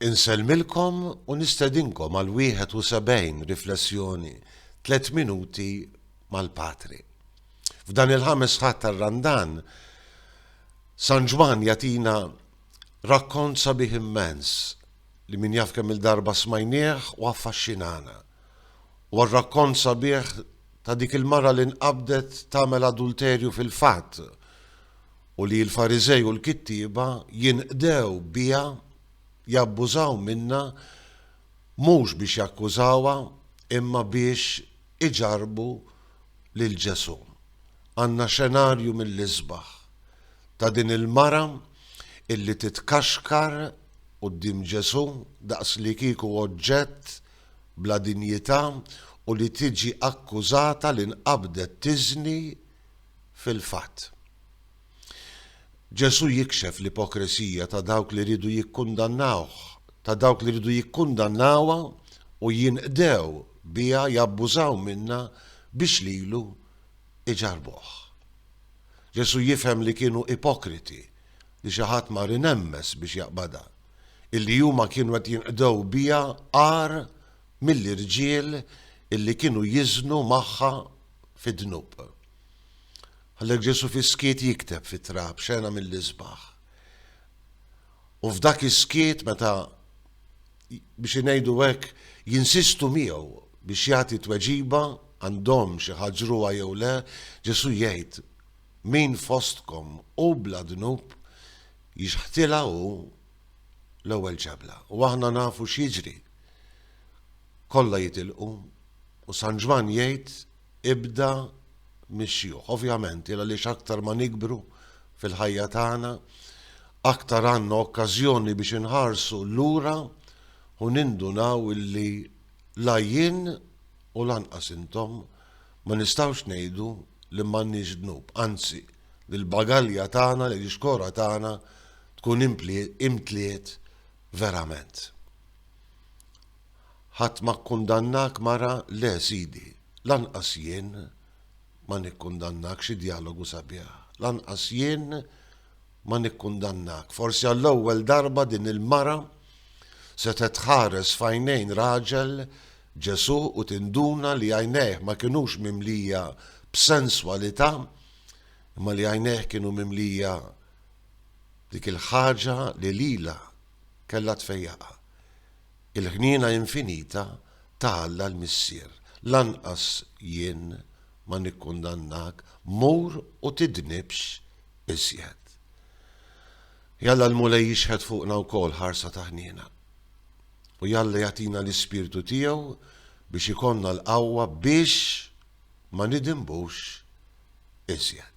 Insellmilkom u nistedinkom għal 71 riflessjoni tliet minuti mal-Patri. F'dan il-ħames ħadd tar-Randan, San Ġwann jagħtina rakkont sabiħ immens li min jaf kemm-il darba smajnieh u affaxxinana. Huwa r-rakkont sabiħ ta' dik il-mara li nqabdet tagħmel adulterju fil-fatt, u li l-Fariżej u l-kittieba jinqdew biha jabbużaw minnha mhux biex jakkużawha imma biex iġarrbu lil Ġesù. Għandna xenarju mill-isbaħ ta' din il-mara illi titkaxkar quddiem Ġesù daqslikieku oġġett bla dinjità u li tiġi akkużata li nqabdet tiżni Fil-fatt, Ġesù jikxef l-ipokresija ta' dawk li riedu jikkundannawh, ta' dawk li riedu jikkundannawha u jinqdew biha jabbużaw minnha biex lilu iġarrbuh. Ġesù jifhem li kienu ipokriti li xi ħadd mar inemmez biex jaqbadha, illi huma kienu qed jinqdew biha agħar mill-irġiel illi kienu jiżnu magħha fid-dnub. Għalhekk Ġesù fis-skiet jikteb fit-trab xena mill-isbaħ. U f'dak is-skiet meta biex ngħidu hekk jinsistu miegħu biex jagħti tweġiba għandhom xi ħaġruha jew le, Ġesù jgħid min fostkom u bla dnub jixħtila u l-ewwel ġebla. U aħna nafu x'jiġri. Kollha jitilqu u San Ġwann jgħid ibda mix-xjuħ. Ovvjament, il għaliex aktar ma nikbru fil-ħajja tagħna, aktar għandna okkażjoni biex inħarsu lura u nindunaw illi la jien u lanqas intom ma nistgħux ngħidu li m'għandniex dnub, anzi, li l-bagalja tagħna, li l-ixkora tagħna tkun imtliet verament. Ħadd ma kkundannak mara le sidi, lanqas jien ma nikkundannak xi djalogu sabiħ, lanqas jien ma nikkundannak forsi għall-ewwel darba din il-mara setgħet tħares f'għajnejn raġel Ġesù u tinduna li għajnejh ma kinux mimlija b'senswalità imma li għajnejh kienu mimlija b'dik il-ħaġa li lilha kellha tfejjaqha. Il-ħniena infinita ta' Alla l-Missier. Lanqas jien ma nikkundannak, mur u tidnibx iżjed. Jalla l-Mulej jixħet fuqna wkoll ħarsa ta' ħniena. U jalla jagħtina l-Ispirtu tiegħu biex ikollna l-qawwa biex ma nidinbux iżjed.